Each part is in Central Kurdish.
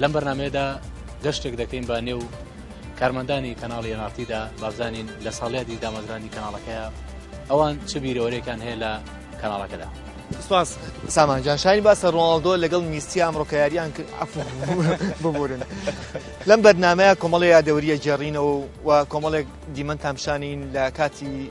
لەم بەرنمەیەدا گەشتێک دەکەین بە نێو کارمەندانی کەناڵی ناتیدا بابزانین لە ساڵیادی دامەزرانی کەناڵەکەیە ئەوان چ بیرەوەرێکان هەیە لە کەناڵەکەدا سپاس سامان جان شاین باسە ڕۆناڵدۆ لەگەڵ میستی ئەمڕۆکە یاریان کرد عفو ببورن لەم بەرنمەیە کۆمەڵی یادەوریە جێڕینەوە و کۆمەڵێک دیمەن تامشانین لە کاتی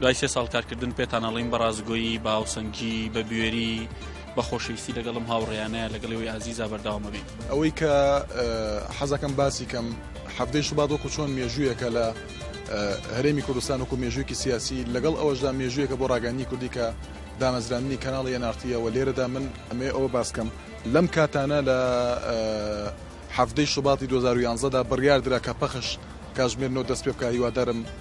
دوای سێ ساڵ کارکردن پێتان ئەڵین بە ڕاستگۆیی بە هاوسەنگی بە بوێری بە خۆشەویستی لەگەڵم هاوڕێیانە لەگەڵەوەی ئازیزا بەرداوامە بین ئەوەی کە حەزەکەم باسی کەم حەفتەی شوبات وەکو چۆن مێژوویەکە لە هەرێمی کوردستان وەکو مێژوویکی سیاسی لەگەڵ ئەوەشدا مێژوویەکە بۆ ڕاگەنی کوردی کە دامەزراندنی کەناڵ یەنارتیەوە لێرەدا من ئەمێ ئەوە باسکەم لەم کاتانە لە حەفتەی شوباتی 2011دا بڕیاردرا کە پەخش کاژمێر نۆ دەست پێ بکە هیوادارم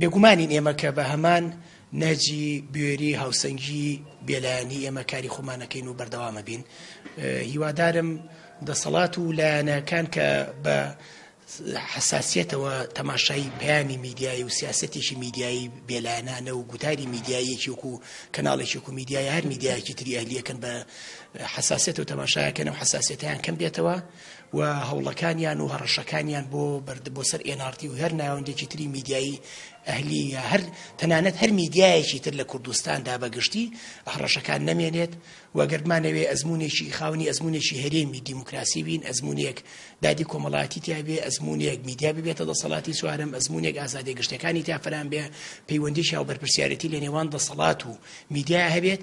بێگومانین ئێمە کە بە هەمان نەهجی بوێری هاوسەنگی بێلایەنی ئێمە کاری خۆمانەکەین و بەردەوامە بین هیوادارم دەسەڵات و لایەنەکان کە بە حساسیتەوە تەماشای پامی میدیایی و سیاستێکی میدیایی بێلایەنانە و گوتاری میدیاییەکی وکو کەناڵێکی وکو میدیای هەر میدیایەکی تریالیەکەن بە حساسێت و تەماشایەکەن و حساسێتیان کەم بێتەوە و هەوڵەکانیان و هەڕەشەکانیان بۆ بەرد بۆ سەر ئێناڕتی و هەر ناوەندێکی تری میدیایی ئەهلی یا هەر تەنانەت هەر میدیایەکی تر لە کوردستاندا بە گشتی هەڕەشەکان نەمێنێت و گەردمانەوێ ئەزمونێکی خاونی ئەزمونێکی هەرێمی دیموکراسی بین ئەزمونێک دادی کۆمەڵاتی تیاێ ئەزمونێک میدیا ببێتە دەسەڵاتی سوارم ئەزمونێک ئازادی گشتەکانی تافران بێ پەیوەندی شاو بەرپسیارەتی لە نێوان دەسەڵات و میدیا هەبێت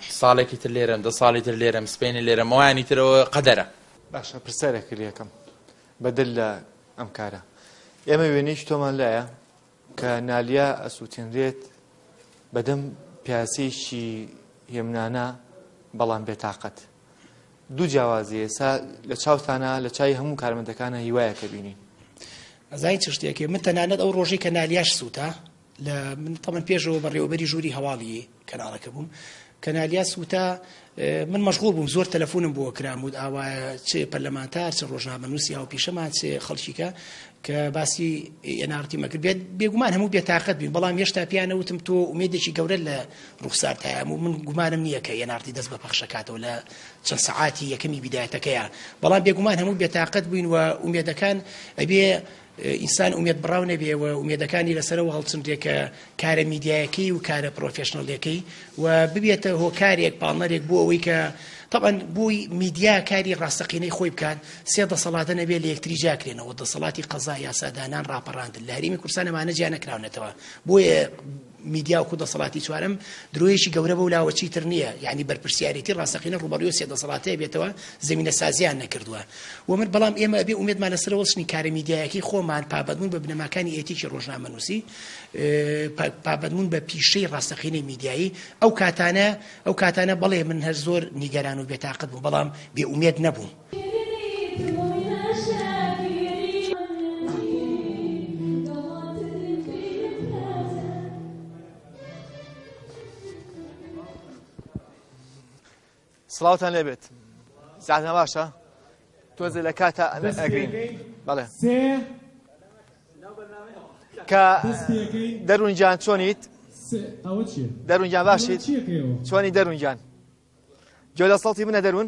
ساڵێکی تر لێرەم دە ساڵی تر لێرەم سبەینێ لێرەم ئەوانی تر ئەوە قەدەرە. باشە پرسیارێک لەکەم بە دەر لە ئەم کارە ئێمە وێنەیەکی تۆمان لایە کە نالیا ئەسووتێنرێت بەدەم پیاسێکی هێمنانە بەڵام بێتاقەت دوو جیاوازی ئێسا لە چاوتانە لە چای هەموو کارمەندەکانە هیوایەکە بینین ئەزای چ شتێکی من تەنانەت ئەو ڕۆژی کە نالیاش سووتا لە من تەمەن پێشەوە بەڕێوەبەری ژووری هەواڵی کەناڵەکە بووم کەنالیاس وتا من مەشغول بووم زۆر تەلەفۆنم بۆ کرام و ئاوا چ پەرلەمانتار چ ڕۆژنامەنووسی ئەو پیشەمان چ خەڵکیکە کە باسی ئێنارتی مەکرد بێت بێگومان هەموو بێتاقەت بین بەڵام هێشتا پیانەوتم تۆ ئومێدێکی گەورە لە ڕوخسار تایام و من گومانم نییە کە ئێنارتی دەست بە پەخشەکاتەوە لە چەند سەعاتی یەکەمی بیدایەتەکەیە بەڵام بێگومان هەموو بێتاقەت بووین و ئومێدەکان ئەبێ ئینسان ئومێد بڕاو نەبێ و ئومێدەکانی لەسەرەوە هەڵچندێ کە کارە میدیایەکەی و کارە پرۆفێشنەڵەکەی و ببێتە هۆکارێک پاڵنەرێک بۆ ئەوەی کە طبعا بووی میدیا کاری ڕاستەقینەی خۆی بکات سێ دەسەڵاتە نەبێ لە یەکتری جاکرێنەوە دەسەڵاتی قەزا یاسادانان ڕاپەڕاندن لە هەرێمی کورسانەمانە جیا نەکراونەتەوە بۆیە میدیا وەکو دەسەڵاتی چوارەم درۆیەکی گەورە بەو لاوە چیتر نییە یعنی بەرپرسیارێتی ڕاستەقینە ڕوبەڕوی سێ دەسەڵاتەیە بێتەوە زمینە سازیان نەکردووە و من بەڵام ئێمە ئەبێ ئومێدمان لەسەر وەڵچنی کارە میدیایەکی خۆمان پابەدمون بە بنەماکانی ئێتیکی ڕۆژنامەنووسی پابەدمون بە پیشەی ڕاستەقینەی میدیایی ئەو کاتانە ئەو کاتانە بەڵێ من هەر زۆر نیگەران و بێتاقەت بوو بەڵام بێ ئومێد نەبووم سڵاوتان لێبێت زیاتە باشە تۆزێ لە کاتە ئەگرین بەڵێ کە دەروونجان چۆنیت دەروونجان باشیت چۆنی دەروونجان جۆ لە سەڵتی منە دەروون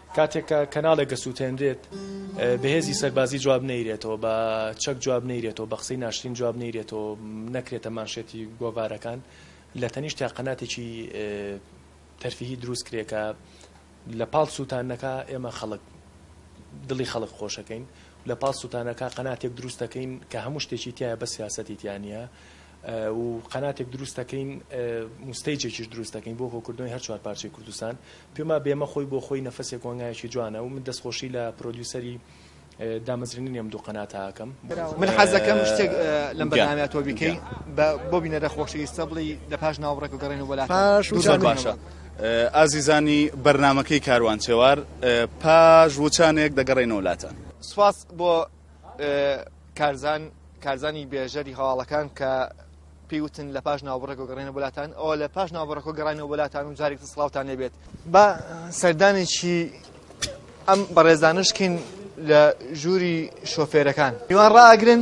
کاتێک کە کەناڵێک دەسووتێنرێت، بە هێزی سەربازی جواب نەیرێتەوە، بە چەک جواب نەیرێتەوە، بە قسەی ناشرین جواب نەیرێتەوە، نەکرێتە مانشێتی گۆڤارەکان، لە تەنیشتیا قەناتێکی تەرفیهی دروست کرێ کە لە پاڵ سووتانەکە ئێمە خەڵک دڵی خەڵک خۆشەکەین، لە پاڵ سووتانەکە قەناتێک دروست دەکەین کە هەموو شتێکی تیایە بەس سیاسەتی تیا نییە. و قەناتێک دروست دەکەین مستەیجێکیش دروست دەکەین بۆ هۆکردنەوەی هەر چوار پارچەی کوردستان پێما بێمە خۆی بۆ خۆی نەفەسێک وەنگایەکی جوانە و من دەستخۆشی لە پرۆدیوسەری دامەزرێنی ئەم دوو قەناتاکەم من حەزەکەم شتێک لەم بەنامە تۆ بیکەین بۆ بینەرە خۆشەویستە بڵی لە پاش ناوڕێک و گەڕێن و بەلا پاش باشە. ئازیزانی بەرنمەکەی کاروان چێوار پاش وچانێک دەگەڕێنەوەلاتە سوپاس بۆ کارزان کارزانی بێژەری هەواڵەکان کە پێوتن لە پاش ناوبڕێکۆ گەڕێنە بولاتان ئەو لە پاش ناوبڕەکۆ گەڕانەوە بولاتان و جارێک سڵاوتان نەبێت بە سەردانێکی ئەم بەڕێزانشکین لە ژووری شۆفێرەکان میوان ڕاگرن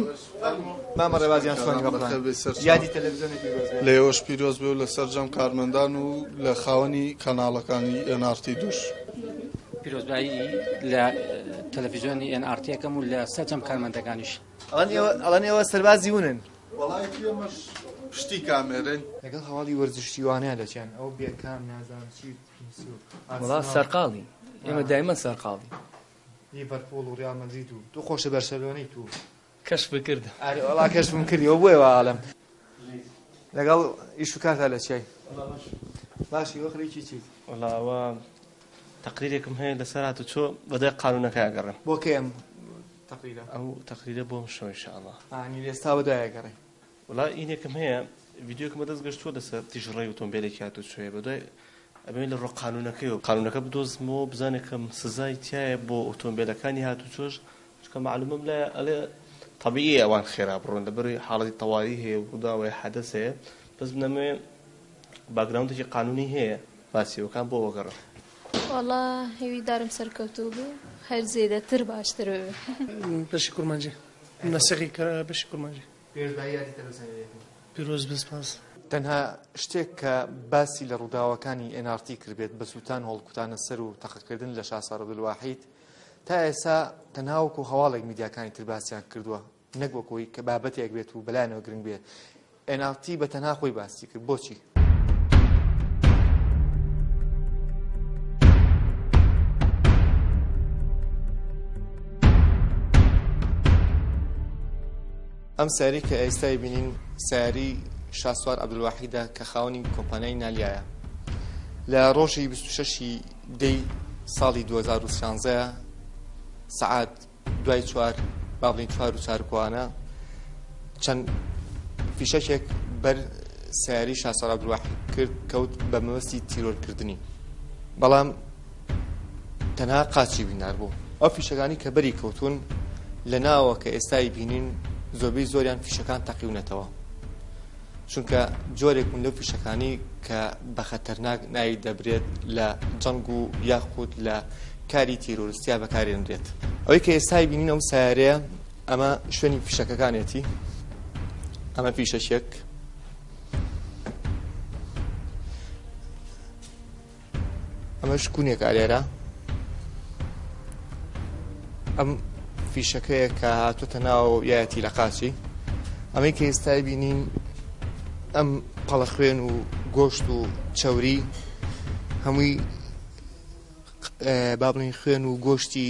مامە ڕێبازیان سۆنی بەڕێ یادی تەلەڤزیۆنێکی لە ئێوەش پیرۆز بێ و لە سەرجەم کارمەندان و لە خاوەنی کەناڵەکانی ئێنارتی دووش پیرۆزبایی لە تەلەفیزیۆنی ئێن ئاڕ تیەکەم و لە سەرجەم کارمەندەکانیش. ئەڵێن ئێوە سەربازی ونن. وەڵایەکی ئێمەش پشتی کامێرەین. لەگەڵ هەواڵی وەرزشی وانە لە چیان ئەو بێکام نازانم چی پیس و ئارسناڵ. وەڵا سەرقاڵی ئێمە دایمەن سەرقاڵی. لیڤەرپوڵ و ڕیاڵ مەدرید و تۆ خۆشە بەرشەلۆنەیت و. کەشفت کرد. ئاری وەڵا کەشفم کردی وە بۆیە وا ئەڵێم. لەگەڵ ئیش و کارتا لە چیای. وەڵا باشم. باشی وە خەریکی چیت؟ وەڵا ئەوە تەقریرێکم هەیە لەسەر هاتوچۆ بەدوای قانوونەکەی ئەگەڕێم. بۆ کەی ئەم تەقریرە؟ ئەو تەقریرە بۆ ئەمشەو ان شاء اللە. ئانی لە ئێستا بەدوای ئەگەڕێی. وەڵا ئینێکم هەیە ڤیدیۆکم بەدەست گەشتووە لەسەر تیژڕەوی ئۆتۆمبێلێکی هاتوچۆیە بەدوای ئەبێ لە ڕۆ قانوونەکەیەوە قانوونەکە بدۆزمەوە بزانێ کەم سزای تایە بۆ ئۆتۆمبێلەکانی هاتوچۆش چونکە مەعلومەم لایە ئەڵێ طبیعی ئەوان خێرا بڕۆن لەبەروی حاڵەتی تەواری هەیە و ڕووداوەیە حەدەس هەیە بەس بنەمەوێ باگراوندێکی قانوونی هەیە باسیەوەکان بۆ وەگەڕە وەڵا هەوی دارم سەرکەوتوو بوو هەر زێدەتر باشتر بشی کورمانجی نەسەقی کە بشی کورمانجی پێش بای یادی تە بەسەر یەکم. پیرۆز بێت سپاس. تەنها شتێک کە باسی لە ڕووداوەکانی NRT کردبێت بە سووتان هەڵکوتانە سەر و تەقەکردن لە شاسار عبدالواحید تا ئێسا تەنها وەکو هەواڵێک میدیاکانی تر باسیان کردووە نەک وەکۆی کە بابەتێک بێت و بەلایەنەوە گرنگ بێت NRT بە تەنها خۆی باسی کرد بۆچی ئەم ساری کە ئێستای بینین ساری شاسوار عبدواحیدا کە خاوەنی کۆمپانیای نالیایە لە ڕۆژی 26 دی ساڵی 2013 سعات دوای چوار با بڵین چوار و چارکۆانە چەند فیشەکێک بەر سیاری شاسەرا درواح کرد کەوت بە مەوەستی تیرۆرکردنی بەڵام تەنها قاچی بینار بوو ئەو فیشەکانی کە بەری کەوتون لە ناوە کە ئێستای بینین زۆربەی زۆریان فیشەکان تەقیونەتەوە چونکە جۆرێک بوون لەو فیشەکانی کە بە خەتەرناک ناوی دەبرێت لە جەنگ و یاخود لە کاری تیرۆرستیا بەکارێنرێت ئەوەی کە ئێستای بینین ئەم سیارەیە ئەمە شوێنی فیشەکەکانێتی ئەمە فیشەشێک ئەمەش کونێکە لێرە ئەم فیشەکەیە کە هاتوتە ناو یایەتی لە قاچی ئەمەی کە ئێستای بینین ئەم پەڵە خوێن و گۆشت و چەوری هەمووی بابلین خوێن و گۆشتی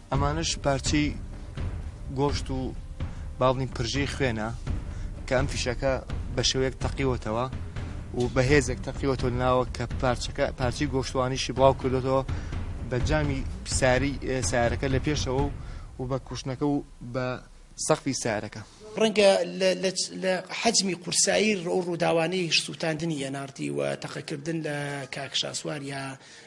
ئەمانەش پارچەی گۆشت و باڵنی پرژەی خوێنە کە ئەم فیشەکە بە شێوەیەک تەقیوەتەوە و بەهێزێک تەقیوەتە ناوە کە پارچەکە پارچی گۆشتوانیشی بڵاو کردێتەوە بە جامی ساری سارەکە لە پێشەوە و بە کوشتنەکە و بە سەقفی سارەکە. ڕەنگە لە حەجمی قورسایی ڕۆ ڕووداوانەی سووتاندنی ئێناڕتی و تەقەکردن لە کاک شاسوار یا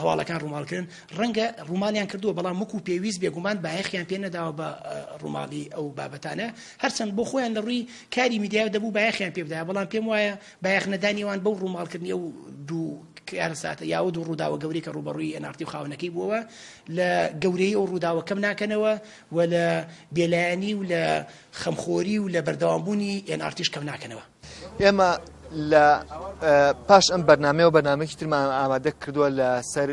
هەواڵەکان ڕووماڵکرن ڕەنگە ڕووماڵیان کردووە بەڵام وەکو پێویست بێگومان بایەخیان پێ نەداوە بە ڕووماڵی ئەو بابەتانە هەرچەند بۆ خۆیان لە ڕووی کاری میدیا دەبوو بایەخیان پێ بدایە بەڵام پێم وایە بایەخ نەدانیوان بەو ڕووماڵکردنی ئەو دوو کارساتە یاوە دوو ڕووداوە گەورەی کە ڕوبەڕووی ئەنارتی و خاونەکەی بووەوە لە گەورەی ئەو ڕووداوە کەم ناکەنەوە و لە بێلایەنی و لە خەمخۆری و لە بەردەوامبوونی ئێنارتیش کەم ناکەنەوە ئێمە لە پاش ئەم بەرنمەوە بەنامێکی ترمان ئامادە کردووە لە سەر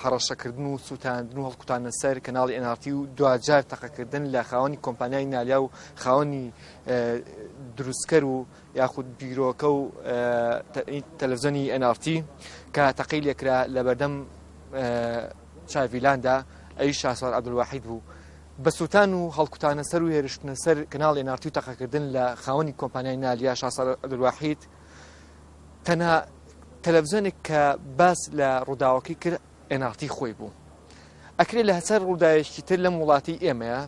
حڕەشەکردن و سووتاندن و هەڵکوتانە سەر کەناڵی ئەنارتی و دوجار تەقەکردن لە خاوەنی کۆمپانیای نالیا و خاوەنی دروستکەر و یاخود بیرۆکە و تەلەڤزیۆنی ئەنارتی کە تەقی لێکرا لە بەردەم چاڤیلاندا ئەوی شاسوار عبدواحید بوو بە سووتان و هەڵکوتانە سەر و هێرشتنە سەر کەناڵی ئێن ئاڕ تی و تەقەکردن لە خاوەنی کۆمپانیای نال یا شاسوار عەبدولواحید تەنها تەلەڤزیۆنێک کە باس لە ڕووداوەکەی کرد ئێن ئاڕ تی خۆی بوو ئەکرێ لە هەسەر ڕووداوێکی تر لەم وڵاتی ئێمەیە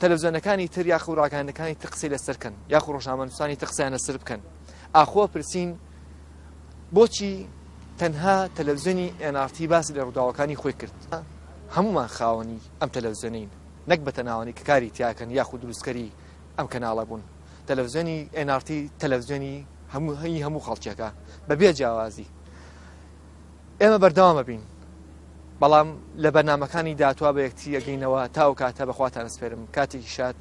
تەلەڤزیۆنەکانی تر یاخ و ڕاگەاندەکانی تر قسەی لەسەر بکەن یاخ و ڕۆژنامەنووسانی تر قسەیان لەسەر بکەن ئاخۆ پرسین بۆچی تەنها تەلەڤزیۆنی ئێن ئاڕ تی باسی لە ڕووداوەکانی خۆی کرد. هەموومان خاوەنی ئەم تەلەفزیۆنەین نەک بە تەناوەنی کە کاری تیاکەن یاخود دروستکەری ئەم کەناڵە بوون تەلەفزیۆنی ئێن ئاڕ تی تەلەفزیۆنی هەموو هەی هەموو خەڵکێکە بە بێ جیاوازی ئێمە بەردەوامە بین بەڵام لە بەرنمەکانی داتوا بە یەکتی ئەگەینەوە تا و کاتە بەخواتان سپێرم کاتێکی شاد